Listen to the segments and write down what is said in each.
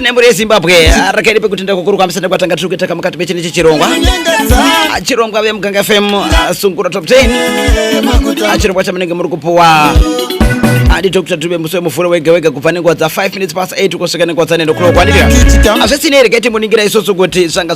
nemhuri yezimbabwe rakaidi pekuti ndakukurukwamisa nekwatanga tiri kuita kamukati mechine chechirongwa chirongwa vemuganga fm sungura top 10 chirongwa chamunenge muri kupuwa adi dr dube musi wemuvhuro wega wega kubva nenguva dza 5 minutes past 8 kusvika nenguva dza 9 o'clock waniria hazvisinei rega timuningira isusu kuti zvanga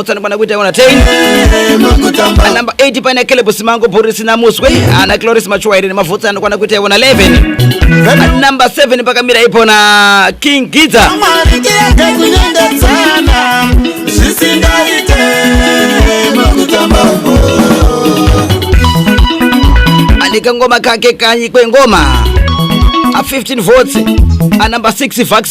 Otsana kwana kuita yona 10 anamba 8 paina kelebo simango borisi namuswe ana cloris machuwaire nemavhotsi anokwana kuita yona 11 namba 7 pakamira ipona king gidza Mwari ndiende kunyengedzana zvisingaite mukutamba uko. ane kangoma kake kanyi kwengoma a 15 votes anamba 6 vax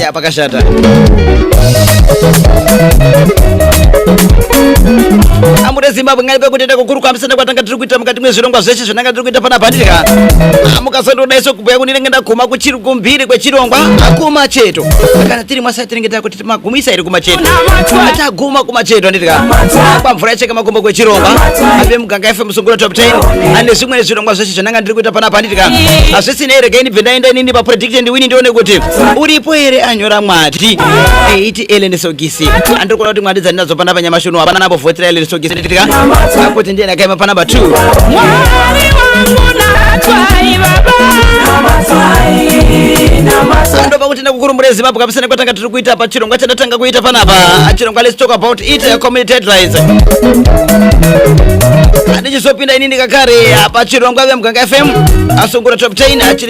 ya pakashata amuda zimbabwe ngani kwekutenda kukuru kwamisana kwatanga tiri kuita mukati mwezvirongwa zveshe zvinanga tiri kuita pana pandika mukasandodaiso kubhuya kuti ndinenge ndaguma kuchiri kumbiri kwechirongwa akuma cheto kana tiri mwasai tinenge takuti magumisa iri kumacheto taguma kumacheto handitika kwamvura yacheka makumbo kwechirongwa ape muganga fm sungura top 10 ane zvimwe zvirongwa zveshe zvinanga ndiri kuita pana pandika hazvisinei regai ndibve ndaenda inini papredictor Alex and Winnie ndione kuti uripo here anyora mwati eiti Ellen Sogisi andikuona kuti mwati dzandinadzo pana panyamashi uno hapana napo vhotera Ellen Sogisi nditika kuti ndiye ndakaima pana number 2 Mwari wangu natswai baba ndopa kuti ndakukurumbure zimbabwe kabisa nekwatanga tiri kuita pa chirongwa chandatanga kuita panapa chirongwa let's talk about it uh, community headlines handichizopinda ini ndikakare apa chirongwa vemuganga fm asungura top 10 achiri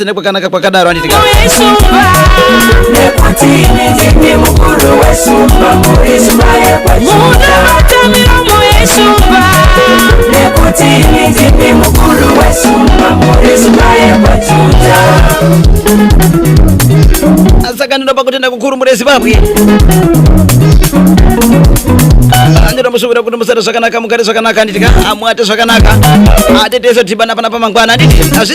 Tine kwakanaka kwakadaro handiti ka? Saka ndinopa kutenda kukuru mune Zimbabwe. Ndinomusuvira kuti musare zvakanaka mugare zvakanaka handiti ka? Amwate zvakanaka. Atetese dhibana pana pamangwana handiti? Hazvi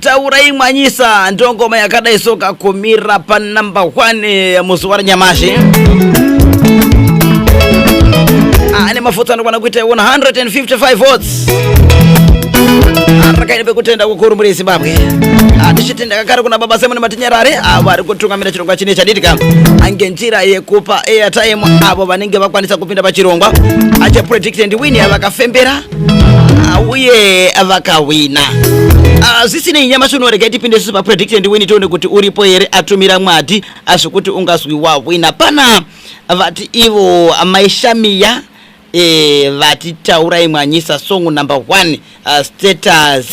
taurai mwanyisa ndo ngoma yakadai soka kumira pa namba 1 muzuva ranyamashi ane mafuta anokwana kuita 155 votes arakaine pekutenda kukuru muri zimbabwe tichitenda kakare kuna baba simon matinyarare avo ari kutungamira chirongwa chine chaditika ange njira yekupa airtime avo vanenge vakwanisa kupinda pachirongwa achapredict and win vakafembera uh, uye vakahwina uh, zvisinei nyamasi unorega tipinde isusu paprediction ndiwini tione kuti uripo here atumira mwadi azvekuti ungazwi wahwina pana vati ivo amai shamiya eh, vati taurai mwanyisa song number 1 uh, status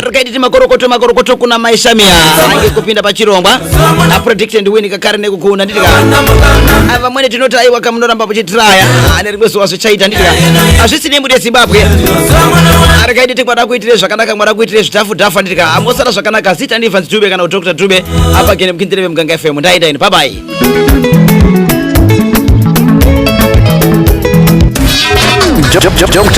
rikaiti timakorokoto makorokoto kuna mai shamiya ange kupinda pachirongwa aprediction ndiwini kakare nekukuuna nditika vamwene tinoti aiwa kamunoramba muchitiraya ane rimwe zuva zvichaita nditi ka hazvisi nemu rezimbabwe arikaiti ti kwada kuitire zvakanaka mwada kuitire zvitafu dhafu anditi ka amosara zvakanaka zita ndi evans dube kana dr dube apa gene mukindire vemuganga fm ndaenda ini babai Jump, jump, jump, jump.